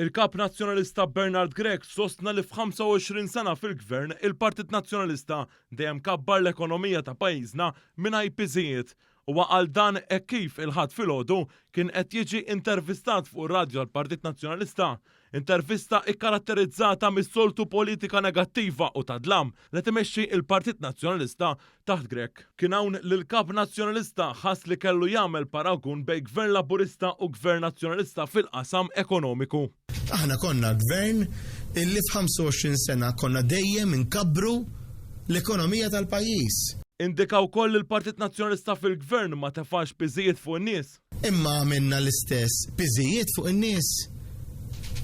Il-Kap Nazzjonalista Bernard Grech sostna li f'25 sena fil-Gvern il-Partit Nazzjonalista dejjem kabbar l-ekonomija ta' pajjiżna mingħajr piżijiet. Huwa qal dan hekk kif il-Ħadd filgħodu kien qed jiġi intervistat fuq ir-radju tal-Partit Nazzjonalista Intervista ikkaratterizzata mis-soltu politika negattiva u ta' dlam li qed imexxi l-Partit Nazzjonalista taħt Grech. Kien hawn li l-Kap Nazzjonalista ħass li kellu jagħmel paragun bejn Gvern Laburista u Gvern Nazzjonalista fil-qasam ekonomiku. Aħna konna Gvern illi f'25 sena konna dejjem inkabbru l-ekonomija tal-pajjiż. Indika wkoll li l-Partit Nazzjonalista fil-Gvern ma tefax piżijiet fuq in-nies. Imma għamilna l-istess piżijiet fuq in-nies.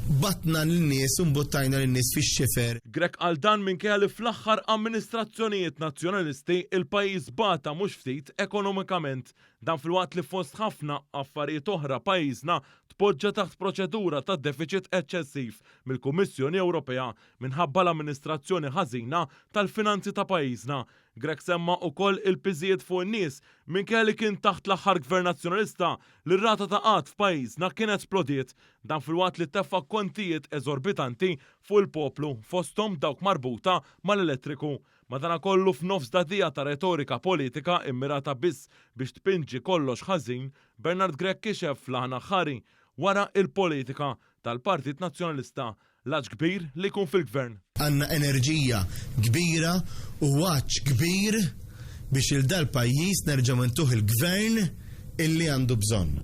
Bagħatna lin-nies u mbuttajna lin-nies fix-xifer. Grech qal dan minkejja li fl-aħħar amministrazzjonijiet Nazzjonalisti l-pajjiż bata mhux ftit ekonomikament. Dan filwaqt li fost ħafna affarijiet oħra pajjiżna tpoġġa taħt proċedura ta' defiċit eċċessiv mill-Kummissjoni Ewropea minħabba l-amministrazzjoni ħażina tal-finanzi ta' pajjiżna Grech semma ukoll il-piżijiet fuq in-nies minkejja li kien taħt l-aħħar Gvern Nazzjonalista li r-rata ta' qgħad f'pajjiżna kienet splodiet. Dan filwaqt li teffa' kontijiet eżorbitanti fuq il-poplu, fosthom dawk marbuta mal-elettriku. Madanakollu f'nofs dagħdigħa ta' retorika politika immirata biss biex tpinġi kollox ħażin, Bernard Grech kixef fl-aħna ħħari wara il-politika tal-Partit Nazzjonalista L-għatx kbir li jkun fil-Gvern. Għandna enerġija kbira u għatx kbir biex lil dal-pajjiż nerġgħu intuh il-Gvern illi għandu bżonn.